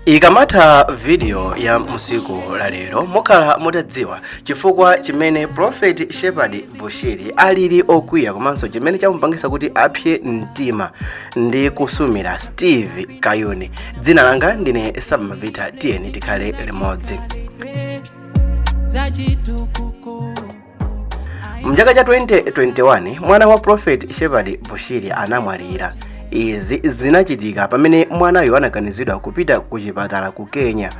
ikamatha vidiyo ya musiku la lero mukhala mutadziwa chifukwa chimene profeti shepard bushiri alili okwiya komanso chimene chamupangisa kuti apse mtima ndi kusumira steve kayuni dzina langa ndine samapita tiyeni tikhale limodzi mchaka cha 2021 mwana wa prophet shepherd bushiri anamwalira izi zinachitika pamene mwanayo anaganizidwa kupita ku chipatala ku kenya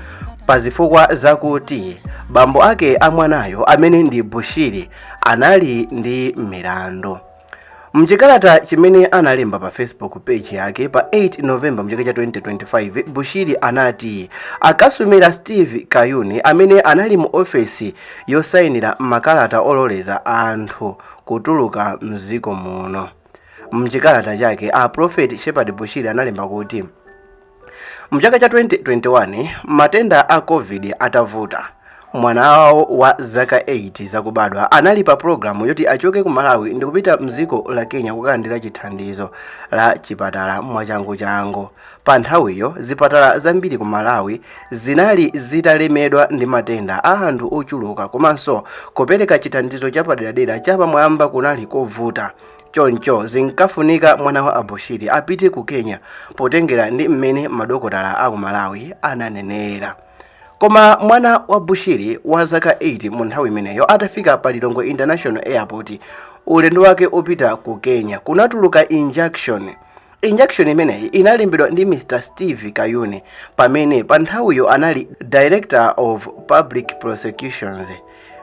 pa zifukwa zakuti bambo ake a mwanayo amene ndi bushiri anali ndi milandu Mchikalata chimene analemba pa Facebook page yake pa 8 November mchaka cha 2025, Bushiri anati akasumira Steve Kayuni amene anali mu ofesi yosainira makalata ololeza anthu kutuluka mziko muno. Mchikalata chake, a Prophet Shepard Bushiri analemba kuti, Mchaka cha 2021 matenda a Covid atavuta, mwana wawo wa zaka 8 zakubadwa anali pa pulogalamu yoti achoke ku Malawi ndikupita mdziko la Kenya kukalandira chithandizo la chipatala mwachanguchangu. Pa nthawiyo zipatala zambiri ku Malawi zinali zitalemedwa ndi matenda a anthu ochuluka komanso kupereka chithandizo chapaderadera chapamwamba kunali kovuta. Choncho zinkafunika mwana wa a Bushiri apite ku Kenya potengera ndi mmene madokotala a ku Malawi ananenera. Koma mwana wa Bushiri wa zaka 8 mu nthawi imeneyo atafika pa Lilongwe International Airport, ulendo wake opita ku Kenya kunatuluka injunction injunction imeneyi inalembedwa ndi mr steve kayuni pamene pa nthawiyo anali director of public prosecutions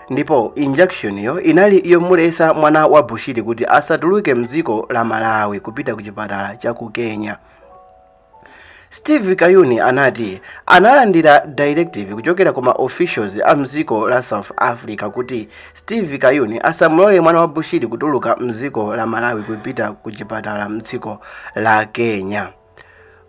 ndipo injunction yo inali yomulesa mwana wa bushiri kuti asatuluke mdziko la malawi kupita ku chipatala cha ku kenya Steve Kayuni anati analandira directive kuchokera ku ma officials a mziko la South Africa kuti Steve Kayuni asamulole mwana wa Bushiri kutuluka mziko la Malawi kupita ku chipatala mdziko la Kenya.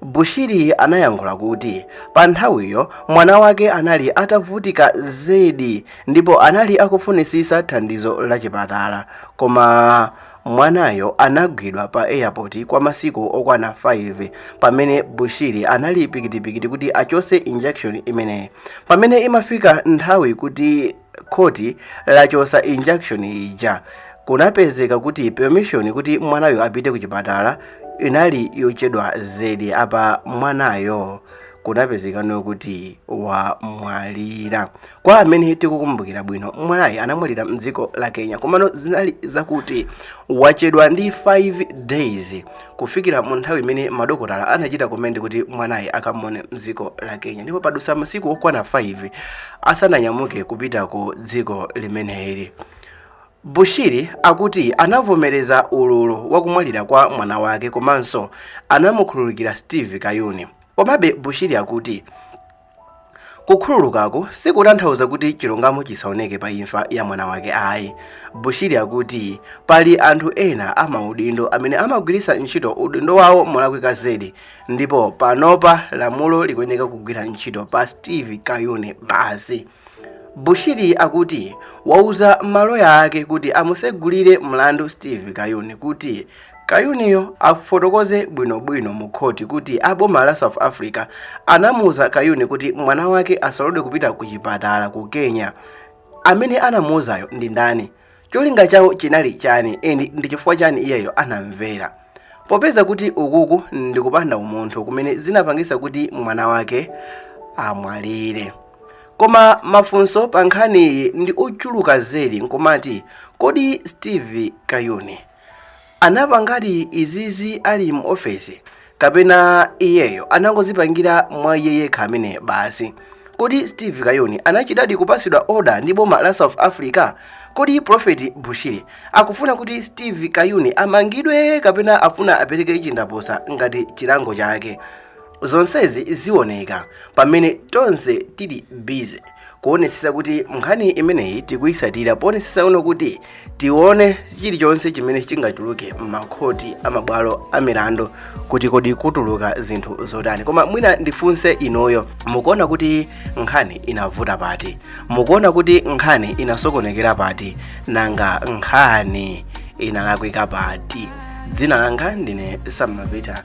Bushiri anayankhula kuti pa nthawiyo mwana wake anali atavutika zedi ndipo anali akufunisisa thandizo la chipatala koma Mwanayo anagwidwa pa airport kwa masiku okwana 5 pamene Bushiri anali pikitipikiti kuti achose injunction imeneyi. Pamene imafika nthawi kuti khoti lachosa injunction ija, kunapezeka kuti permission kuti mwanayo apite kuchipatala inali yochedwa zedi apa mwanayo kunapezekano kuti wamwalira. kwa amene tikukumbukira bwino mwanayo anamwalira mdziko la kenya komano zinali zakuti wachedwa ndi 5 days kufikira mu nthawi imene madokotala anachita recommend kuti mwanayo akamuone mdziko la kenya ndipo padusa masiku okwana 5 asananyamuke kupita ku dziko limeneli bushiri akuti anavomereza ululu wakumwalira kwa mwana wake komanso anamukhululukira steve kayuni komabe bushiri akuti Kukhululukako sikutanthauza kuti chilungamo chisaoneke pa imfa ya mwana wake ayi. Bushiri akuti pali anthu ena amaudindo amene amagwiritsa ntchito udindo wawo molakwika zedi ndipo panopa lamulo likuyeneka kugwira ntchito pa Steve Kayuni basi. Bushiri akuti wauza maloya ake kuti amusegulire mlandu Steve Kayuni kuti Kayuniyo afotokoze bwinobwino mu khoti kuti a boma la South Africa anamuuza Kayuni kuti mwana wake asalodwe kupita ku chipatala ku Kenya. Amene anamuuzayo ndi ndani? Cholinga chawo chinali chani and ndi chifukwa chani iyeyo anamvera? Popeza kuti ukuku ndi kupanda umunthu kumene zinapangisa kuti mwana wake amwalire. Koma mafunso pa nkhaniyi ndi ochuluka zedi nkumati kodi Steve Kayuni Anapangadi izizi ali mu ofesi kapena iyeyo anangozipangira mwa iye yekha amene basi? Kodi Steve Kayuni anachitadi kupasidwa order ndi boma la South Africa? Kodi Prophet Bushiri akufuna kuti Steve Kayuni amangidwe kapena afuna apereke chindapusa ngati chilango chake? zonsezi zioneka pamene tonse tili busy kuonesesa kuti nkhani imeneyi tikuyisatira ponesesa uno kuti tione chilichonse chimene chingatuluke m'makhoti amabwalo amilandu kuti kodi kutuluka zinthu zotani koma mwina ndifunse inuyo mukuona kuti nkhani inavuta pati mukuona kuti nkhani inasokonekera pati nanga nkhani inalakwika pati dzina langa ndine Sam Mapita